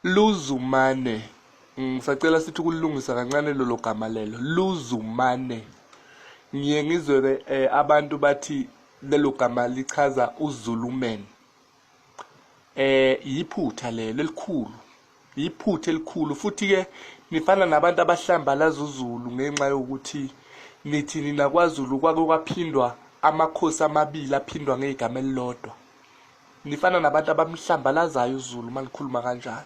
Luzumane. Ngisacela sithi ukulilungisa kancane lolo gama lelo. Luzumane. Ngiye ngizwe-ke eh, abantu bathi lelo gama lichaza uZuluman. Eh yiphutha lelo elikhulu. Yiphutha elikhulu futhi ke nifana nabantu abahlambalaza uZulu ngenxa yokuthi nithi nina kwaZulu kwake kwaphindwa amakhosi amabili aphindwa ngegama elilodwa. nifana nabantu abamhlambalazayo uzulu uma nikhuluma kanjalo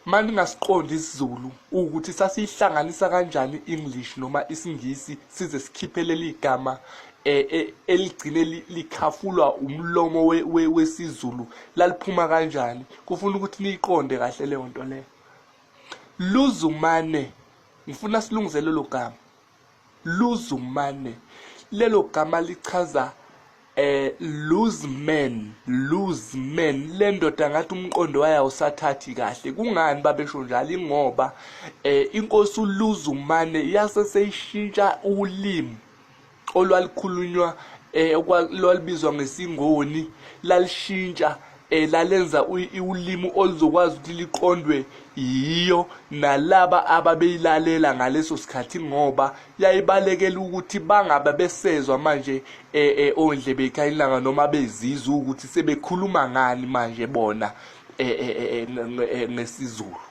uma ningasiqondi isizulu ukuthi sasiyihlanganisa kanjani i-english noma isingisi size sikhiphe leli gama eh, eh, eligcine likhafulwa umlomo wesizulu laliphuma kanjani kufuna ukuthi niyiqonde kahle leyo nto leyo luzumane ngifuna silungise lelo gama Luzumane, lelo gama lichaza eh lose man lose man le ndoda ngathi umqondo wayo awusathathi kahle kungani babesho njalo ingoba eh inkosi uluze umane yase seyishintsha ulimi olwalikhulunywa eh lwalibizwa ngesingoni lalishintsha elalenza ulimi oluzokwazi ukuthi liqondwe yiyo nalaba ababeyilalela ngaleso sikhathi ngoba yayibalekela ukuthi bangabe besezwa manje eh, eh, ondlebe ikhayilanga noma bezizwa ukuthi sebekhuluma ngani manje bona eh, ngesiZulu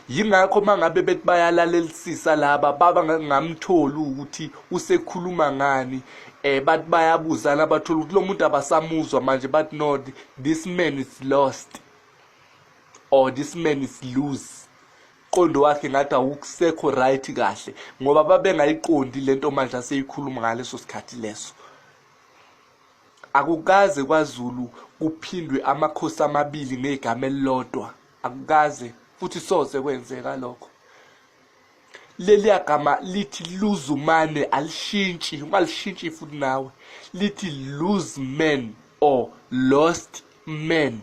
yingakho mangabe bethi bayalalelisisa laba baba ngamtholi ukuthi usekhuluma ngani eh bathi bayabuzana bathola ukuthi lo muntu abasamuzwa manje bathi no this man is lost or this man is loose qondo wakhe ngathi awukusekho right kahle ngoba babengayiqondi lento manje aseyikhuluma ngaleso sikhathi leso akukaze kwaZulu kuphindwe amakhosi amabili ngegama elilodwa akukaze futhi soze kwenzeka lokho leliya gama lithi luzumane alishintshi ungalishintshi futhi nawe lithi lose man or lost man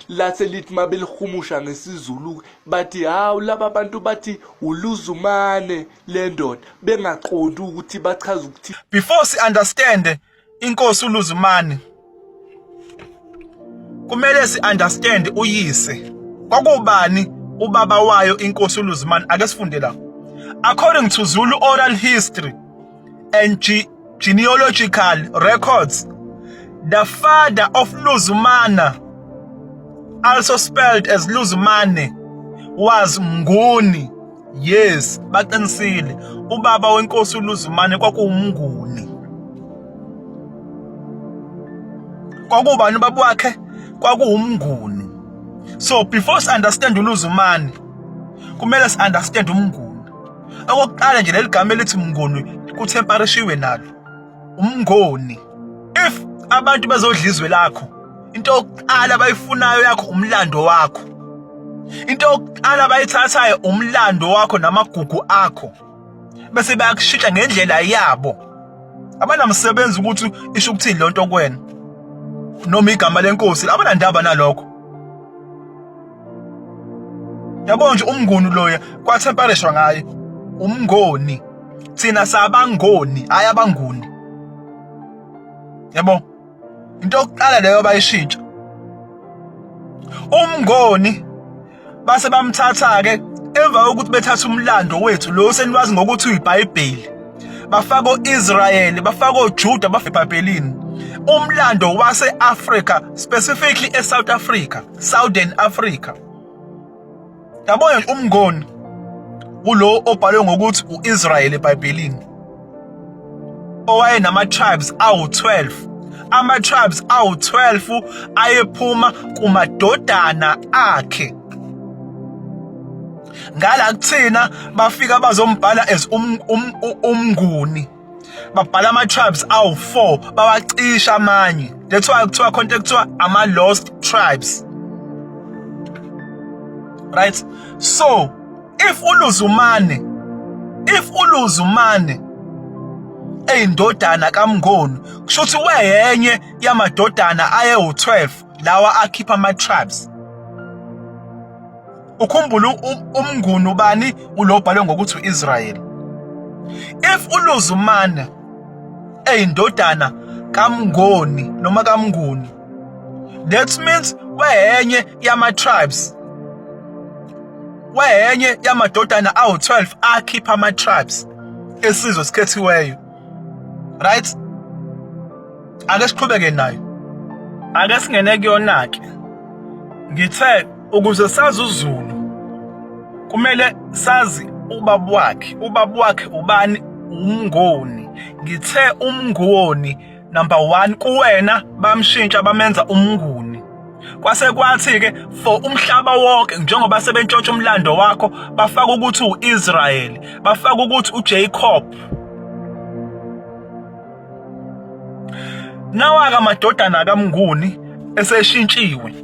lathi lithi mabelihumusha ngesizulu bathi hawu laba bantu bathi uluzumane lendoda bengaqondi ukuthi bachaza ukuthi before si understand inkosi uLuzumane kumele si understand uyise kwakubani ubaba wayo inkosi uLuzumane ake sifunde la according to Zulu oral history and ge genealogical records the father of Luzumana also spelled as Luzumane was Mnguni yes baqinisile ubaba wenkosi uluzumane kwakuwumnguni kwakubani ubaba wakhe kwakuwumnguni so before si understand uluzumane kumele si understand umnguni okokuqala nje leli gama elithi mnguni kuthemparishiwe nalo umngoni if abantu bazodla izwe lakho into yokuqala abayifunayo yakho umlando wakho into yokuqala abayithathayo umlando wakho namagugu akho bese bayakushintsha ngendlela yabo abanamsebenzi ukuthi isho ukuthini lonto kwena noma igama lenkosi abanandaba nalokho yabo nje umnguni loya kwathempereshwa ngaye umngoni thina sabangoni hayi abanguni yabo into yokuqala leyo bayishintsha umngoni base bamthatha ke emva kokuthi bethatha umlando wethu lo seniwazi ngokuthi uyiBhayibheli bafaka oIsrayeli bafaka oJuda bafebhabhelini umlando waseAfrica specifically eSouth Africa Southern Africa yabona nje umngoni kulo obhalwe ngokuthi uIsrael eBhayibhelini owayenama tribes awu12 ama tribes awu12 ayephuma kumadodana akhe ngala kuthina bafika bazombhala as um, um, umnguni babhala ama-tribes awu-four bawacisha amanye that's why kuthiwa khonto ekuthiwa ama-lost tribes right so if uluzumane if uluzumane eyindodana kamngoni kusho ukuthi weyenye yamadodana ayewu-12 lawa akhipha ama-tribes ukhumbule umnguni ubani ulobhalwe ngokuthi uIsrael if uluzumana eyindodana kamngoni noma kamnguni that means weyenye yama tribes weyenye yamadodana awu12 akhipha ama tribes esizwe sikhethiweyo right ake siqhubeke nayo ake singene kuyona ke ngithe ukuze sazi uZulu kumele sazi ubaba wakhe ubaba wakhe ubani umngoni ngithe umngoni number 1 kuwena bamshintsha bamenza umnguni Kwase kwathi-ke for umhlaba wonke njengoba sebentshontsha umlando wakho bafaka ukuthi u-Israyeli bafaka ukuthi uJacob nawaka amadodana kaMnguni eseshintshiwe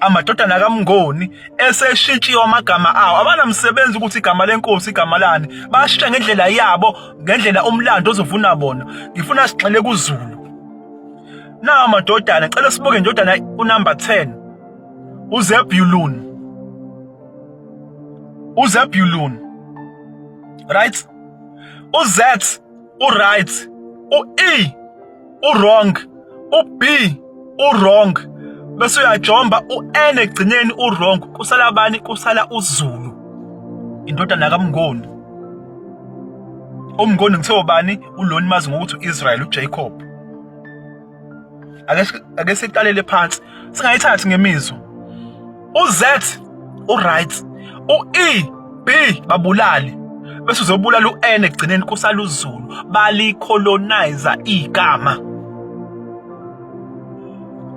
amadodana kaMngoni eseshintshiwe amagama awo abanamsebenzi ukuthi igama lenkosi igama lani bashintsha ngendlela yabo ngendlela umlando ozovuna bona ngifuna sigxile kuZulu Nawa madodana, cela sibuke ndodana unumber 10. UZebulun. UZebulun. Right? UZ uright, uE uwrong, uB uwrong. Bese uyajomba uN egcineni uwrong. Kusala abani? Kusala uZulu. Indodana kaMngoni. Umngoni ngithiwa bani? Uloni mazi ngokuthi uIsrael uJacob. ake siqalele phansi singayithathi ngemizwa uz uright u-e b babulali bese uzobulala u-n ekugcineni kusala uzulu balicolonizer igama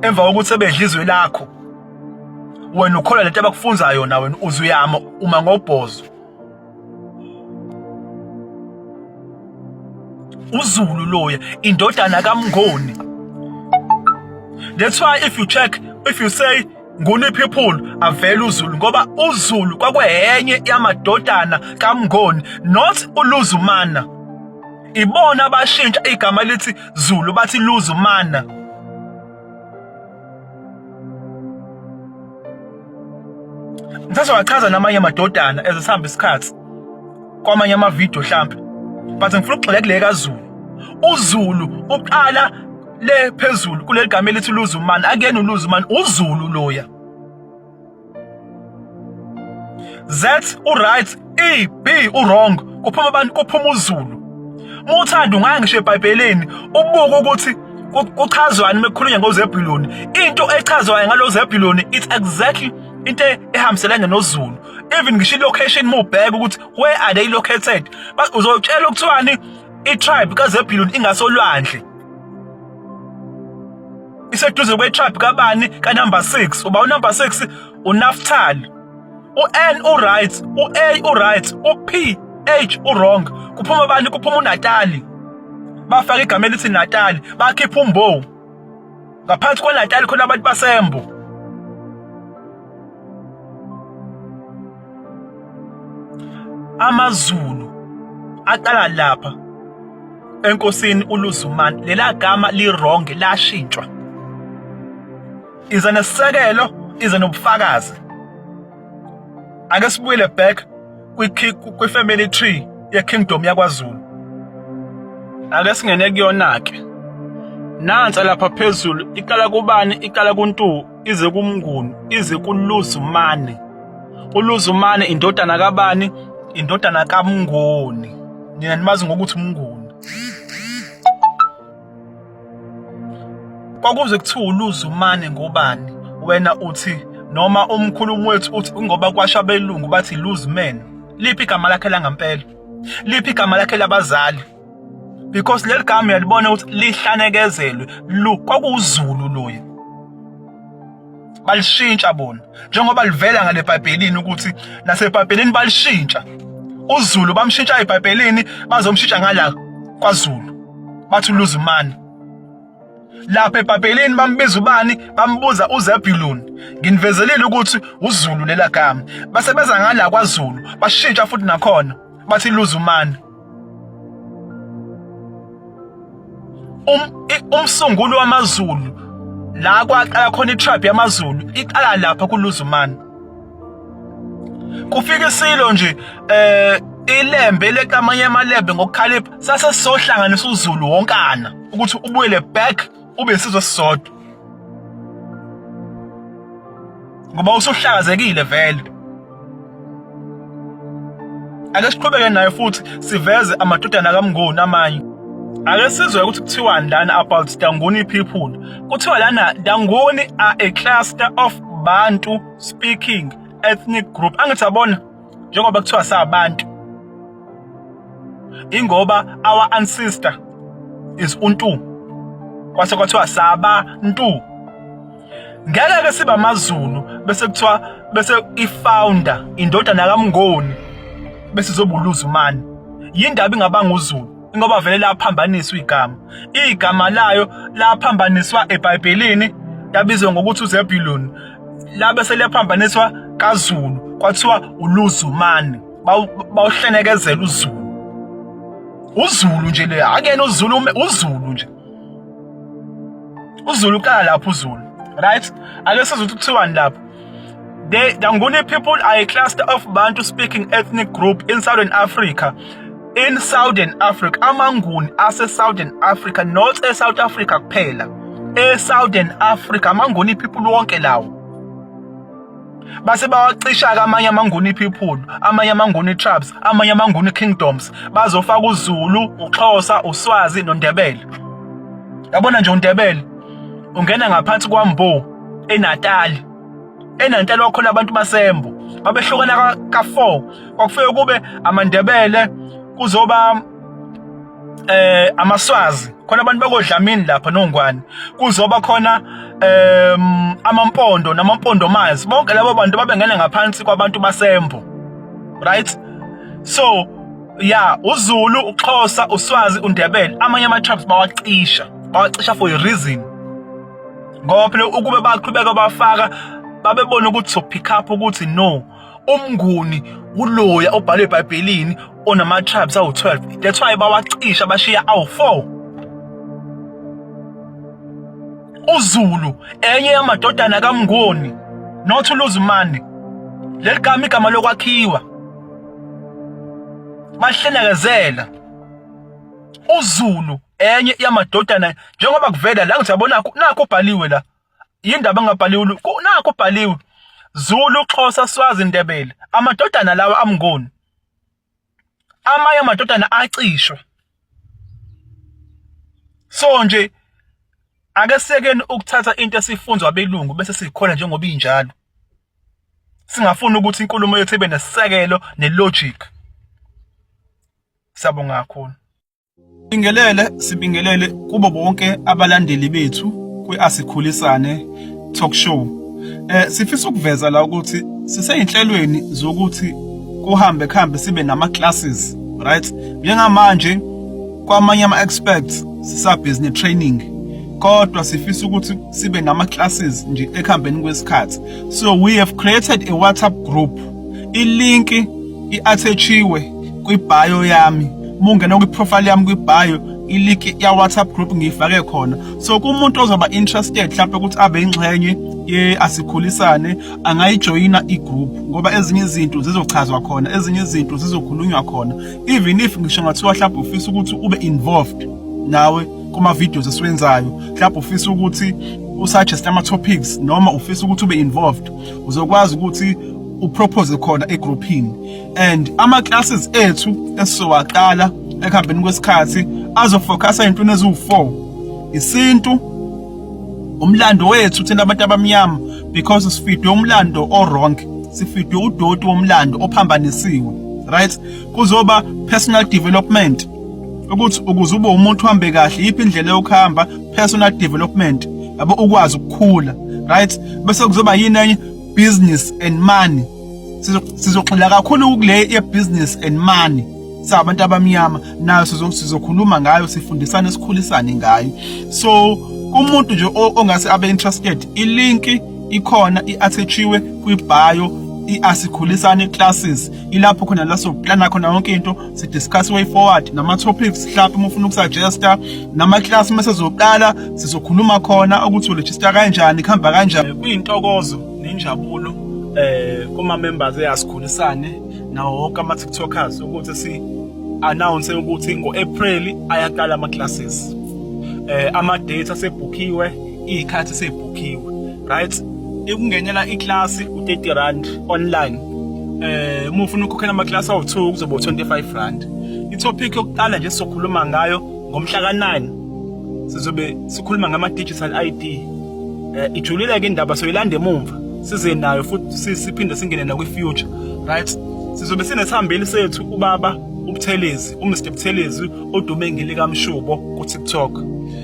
emva kokuthi sebedla izwe lakho wena ukholwa lento abakufunza yona wena uzuyama uma ngobhozo uzulu loya indodana kamngoni that's why if you check if you say nguni people avela uzulu ngoba uzulu kwakwehenye yamadodana kamngoni not uluzumana ibona abashintsha igama lithi zulu bathi luzumana Mthatha wachaza namanye amadodana ezisihamba isikhathi kwamanye amavidiyo hlampe but ngifuna ukugxila kule kaZulu uZulu uqala le phezulu kuleli gama elithi luzumani akuyena uluzumani uzulu loya Z uright E B uwrong kuphuma abantu kuphuma uZulu muthanda ungaya ngisho eBhayibhelini ubuke ukuthi kuchazwani mekukhulunywa ngoZebuloni into echazwayo ngaloZebuloni it's exactly into ehambiselana noZulu even ngisho ilocation mubheka ukuthi where are they located uzotshela ukuthiwani itribe kaZebuloni ingasolwandle iseduze kwetrap kabani kanumber 6 uba unumber 6 unaftali u-n uright u-a uright u-p h urong kuphuma abantu kuphuma unatali bafaka igama elithi natali bakhipha umbowu ngaphansi kwenatali khona abantu basembo AmaZulu aqala lapha enkosini uLuzumane lela gama liwrong lashintshwa iza nesisekelo iza nobufakazi ake sibuyele back kwi family tree ye kingdom yakwaZulu ake singene kuyona ke nansa lapha phezulu iqala kubani iqala kuntu ize kumnguni ize kuluzumane uluzumane indodana kabani indodana kamnguni nina nimazi ngokuthi umnguni kwakuze kuthiwa uluzumane ngobani wena uthi noma umkhulumu wethu uthi ngoba kwasha belungu bathi luzimene liphi igama lakhe langampela liphi igama lakhe labazali because leli gama uyalibona ukuthi lihlanekezelwe lu kwakuwuzulu loyo balishintsha bona njengoba livela ngale bhayibhelini ukuthi nasebhayibhelini balishintsha uzulu bamshintsha ebhayibhelini bazomshintsha ngala kwazulu bathi uluzimani lapha ebhayibhelini bambiza ubani bambuza uzebuluni nginivezelile ukuthi uzulu lelagama basebenza ngala kwazulu bashintsha futhi nakhona bathi luzumani Um, umsunguli wamaZulu la kwaqala khona itribe yamaZulu iqala lapha kuLuzumane kufika isilo nje eh ilembe lekamanye amalembe ngokukhalipha sase sohlanganisa uZulu wonkana ukuthi ubuyele back ube isizwe sisodwa ngoba usuhlakazekile vele ake siqhubeke naye futhi siveze amadodana kamnguni amanye ake sizwe ukuthi kuthiwani lana about danguni people kuthiwa lana danguni are a cluster of bantu speaking ethnic group angithi abona njengoba kuthiwa sabantu ingoba our ancestor is untu kwase kwathiwa sabantu ngeke ke siba amazulu bese kuthiwa bese ifounder indodana kaMngoni bese izobuluza umani yindaba ingabanga uzulu ingoba vele laphambaniswa igama igama layo laphambaniswa eBhayibhelini yabizwa ngokuthi uZebulun labe seliyaphambaniswa kaZulu kwathiwa uluzumani bawuhlenekezela uZulu uZulu nje le akuyena uZulu uZulu nje uZulu kala lapho uZulu right ake sizwe ukuthi kuthiwani lapho The Danguni people are a cluster of Bantu speaking ethnic group in southern Africa In Southern Africa, amaNguni ase-Southern Africa, not e-South Africa kuphela. E-Southern Africa, amaNguni people wonke lawo. base bawacisha-ke amanye amanguni people amanye amanguni tribes amanye amanguni kingdoms bazofaka uzulu uxhosa uswazi nondebele yabona nje undebele ungena ngaphansi kwambo enatali enantela wakhona abantu basembo babehlukana ka-4 kwakufike kube amandebele kuzoba eh amaswazi khona abantu bakodlamini lapha nongwane kuzoba khona em amampondo namampondo mazi bonke labo bantu babengena ngaphansi kwabantu basembo right so ya uZulu uXhosa uSwazi uNdebele amanye ama tribes bawacisha bawacisha for a reason ngoba phela ukube baqhubeka bafaka babebona ukuthi so pick up ukuthi no umnguni uloya obhalwe ebhayibhelini onama-tribes awu-12 that's why bawacisha bashiya awu-4 uzulu enye yamadodana kamngoni not uluzimane leli gama igama lokwakhiwa bahlenekezela uzulu enye yamadodana njengoba kuvela la ngithi yabona nakho ubhaliwe la yindaba engabhaliwe nakho ubhaliwe Zulu Xhosa Swazi Ndebele amadodana lawa amngoni amanye amadodana acishwe so nje ake sekeni ukuthatha into esifunzwa abelungu bese sikhona njengoba injalo singafuni ukuthi inkulumo yethu ibe nesisekelo nelogic siyabonga kakhulu Sibingelele sibingelele kubo bonke abalandeli bethu kwiasikhulisane talk show. Eh sifisa ukuveza la ukuthi siseyinhlelweni zokuthi kuhambe kuhambe sibe nama classes, right? Njengamanje kwamanye ama experts sisa business training kodwa sifisa ukuthi sibe nama classes nje ekuhambeni kwesikhathi. So we have created a WhatsApp group Ilinki i-athatshiwe kwi-bio yami. Uma ungena kwi-profile yami kwi-bio, ilinki ya-WhatsApp group ngiyifake khona. So kumuntu ozoba interested mhlawumbe ukuthi abe ingxenye ye asikhulisane angayijoyina i-group ngoba ezinye izinto zizochazwa khona, ezinye izinto zizokhulunywa khona. Even if ngisho ngathiwa mhlawumbe ufisa ukuthi ube involved nawe kuma videos esiwenzayo, mhlawumbe ufisa ukuthi usuggest ama topics noma ufisa ukuthi ube involved uzokwazi ukuthi upropose khona egrouphini and ama classes ethu esizowaqala ekuhambeni kwesikhathi azofocusa entweni eziwu4 isintu umlando wethu thina abantu abamnyama because sifidwe umlando owrong sifidwe udoti womlando ophambanisiwe right kuzoba personal development ukuthi ukuze ube umuntu uhambe kahle yiphi indlela yokuhamba personal development yabo ukwazi ukukhula right bese kuzoba yini enye business and money sizogxila kakhulu kule ye business and money sabantu abamnyama nayo sizokhuluma ngayo sifundisane sikhulisane ngayo so umuntu nje ongase abe interested ilinki ikhona iattached kwi bio iasikhulisane classes ilapho khona la sokuplana khona yonke into si discuss way forward nama topics mhlawumbe uma ufuna ukusuggesta nama class uma sezoqala sizokhuluma khona ukuthi uregister kanjani kuhamba kanjani kuyintokozo nenjabulo eh kuma members eyasikhulisane nawo wonke ama TikTokers ukuthi si announce ukuthi ngo April ayaqala ama classes eh ama data sebhukiwe iy'khathi seyibhukhiwe right ikungenela iklasi u-30 rand online eh uma ufuna ukukhokhela amakilasi awu-2 kuzoba u-25 rand itopic yokuqala nje sizokhuluma ngayo ngomhla ka-9 sizobe sikhuluma ngama-digital id eh ijulile-ke indaba soyilanda emumva size nayo futhi siphinde singene nakwi-future right sizobe sinesihambeli sethu ubaba ubuthelezi umr buthelezi odume ngelikamshubo ku-tiktok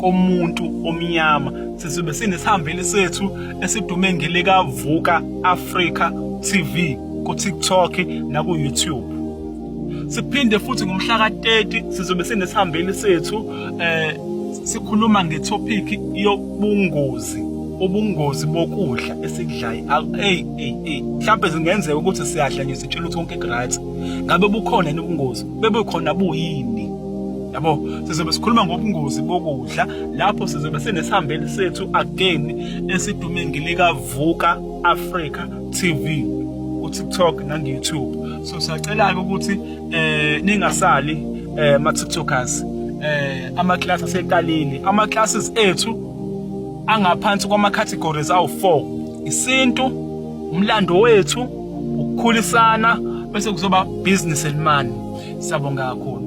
komuntu omnyama sizobe sinesihambeli sethu esidume ngelika Vuka Africa TV ku TikTok na ku YouTube siphinde futhi ngomhla ka-30 sizobe sinesihambeli sethu eh sikhuluma ngetopic yobungozi ubungozi bokudla esikudlayo hey hey hey mhlawumbe zingenzeka ukuthi siyadla nje sitshela ukuthi konke right ngabe bukhona ubungozi bebukhona buyini yabo sizobe sikhuluma ngobungozi bokudla lapho sizobe sinesihambeli sethu again esidume ngilikavuka africa tv ku-tiktok nangu-youtube so siyacela-ke ukuthi eh ningasali eh ma-tiktokers eh ama-class aseqalile ama-classes ethu angaphansi kwama-categories awu-four isintu umlando wethu ukukhulisana bese kuzoba business and money siyabonga kakhulu